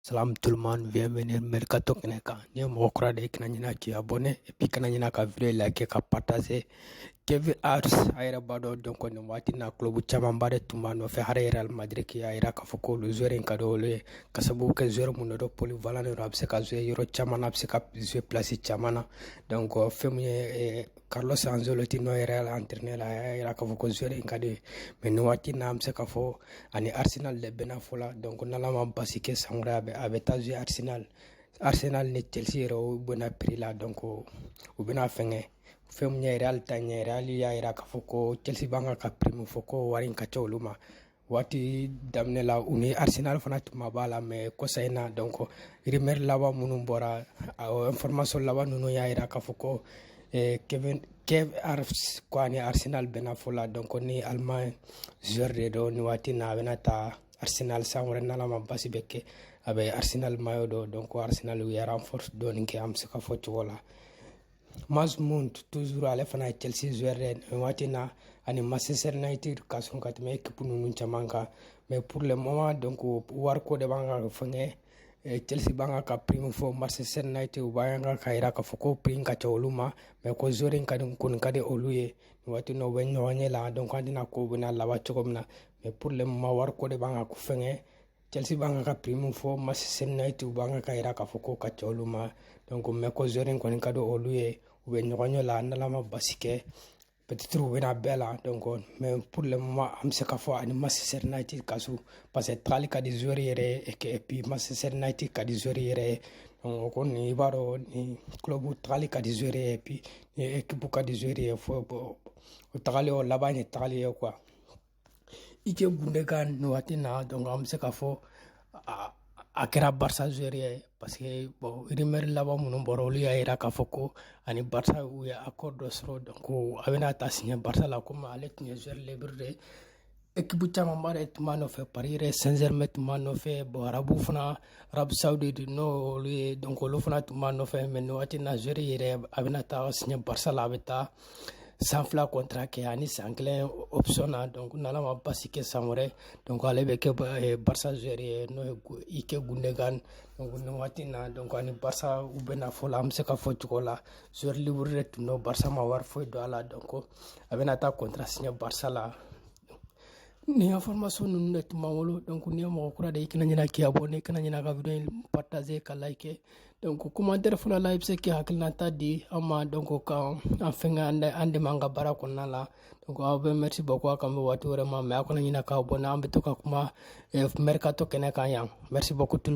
Salam tout le monde, bienvenue Mercato kɛnɛ kan. Ni mɔgɔ kura de i kana ɲina k'i abonné et puis kana ɲina ka vidéo liker ka partager. Kai Havertz a yɛrɛ b'a dɔn donc nin waati na club camanba de tun b'a nɔfɛ hali Real Madrid y'a jira k'a fɔ k'olu joueur in ka di olu ye ka sababu kɛ joueur min don polyvalent de don a bɛ se ka jouer yɔrɔ caman na a bɛ se ka jouer place caman na donc fɛn min ye Carlos Ancelotti n'o ye Real entraîneur a y'a jira k'a fɔ ko joueur in ka di ye mais nin waati na an bɛ se k'a fɔ a ni Arsenal de bɛnna fɔ la donc n'Ala ma basi kɛ san wɛrɛ a bɛ a bɛ taa jouer Arsenal Arsenal ni Chelsea yɛrɛ u bɛnna prix la donc u bɛna fɛngɛ fɛn min ye Real ta in ye Real y'a jira k'a fɔ ko Chelsea b'an ka ka prix min fɔ ko wari in ka ca olu ma waati daminɛ la u ni arsenal fana tun ma bɛn a la mais kɔsa in na donc rumeur laban minnu bɔra information laban ninnu y'a jira k'a fɔ ko eh, kai havertz ko a ni arsenal bɛnna fɔ la donc ni allemagne joueur de don nin waati na a bɛna taa arsenal san wɛrɛ n'ala ma basi bɛ kɛ a bɛ arsenal maillot don donc arsenal u ye renforce dɔɔni kɛ an bɛ se k'a fɔ cogo la Mason Mount toujours ale fana ye Chelsea joueur waati in na a ni Manchester United ka surun ka tɛmɛ ekipu ninnu caman kan mais pour le moment donc wariko de b'an ka fɛngɛ eh, Chelsea b'an ka ka prix min fɔ Manchester United u b'an ka ka jira k'a fɔ ko prix in ka ca olu ma mais ko joueur in ka di kɔni ka di olu ye nin waati in na u bɛ ɲɔgɔn ɲɛ la donc an t'a dɔn a ko bɛna laban cogo min na mais pour le moment wariko de b'an ka fɛngɛ Chelsea b'an ka ka prix min fɔ Manchester United u b'an ka yira k'a fɔ ko ka ca olu ma donc mais ko joueur in kɔni ka di olu ye u bɛ ɲɔgɔn ɲɛ la n'ala ma basi kɛ peut-être u bɛna bɛn a la donc mais pour le moment an bɛ se k'a fɔ a ni Manchester United ka surun parce que tagali ka di joueur yɛrɛ ye et que et puis Manchester United ka di joueur yɛrɛ ye donc o kɔni i b'a dɔn ni club tagali ka di joueur ye et puis ni équipe ka di joueur ye fo o tagali o laban ye tagali ye quoi ilkay gundogan nin waati na donc an bɛ se k'a fɔ a kɛra barça joueur ye parce que bon rumeur laban minnu bɔra olu y'a yira k'a fɔ ko a ni barça u ye accord sɔrɔ donc a bɛna taa signer barça la comme ale tun ye joueur libre de ye équipe camanba de tun b'a nɔfɛ paris saint-germain tun b'a nɔfɛ bon arabu fana arabie saoudite n'olu ye donc olu fana tun b'a nɔfɛ mais nin waati na joueur yɛrɛ a bɛna taa signer barça la a bɛ taa san fila contrat kɛ ani san kelen option na donc n'ala ma basi kɛ san wɛrɛ donc ale bɛ kɛ eh, barça joueur ye n'o ye ilkay gundogan donc nin waati na donc a ni barça u bɛnna fɔ la an bɛ se k'a fɔ cogo la joueur libre de tun don barça ma wari foyi don a la donc a bɛna taa contrat signer barça la Nin information ninnu de tun b'an bolo donc n'i ye mɔgɔ kura de ye i kana ɲinɛ k'i abonner i kana ɲinɛ ka video in partager ka liker donc commentaire fana la i bɛ se k'i hakilinata di an ma donc ka an fɛngɛ an dɛmɛ an ka baara kɔnɔna la donc aw bɛɛ merci beaucoup a k'an bɛn waati wɛrɛ ma mais aw kana ɲinɛ ka abonner an bɛ to ka kuma mercato kɛnɛ kan yan merci beaucoup tout le monde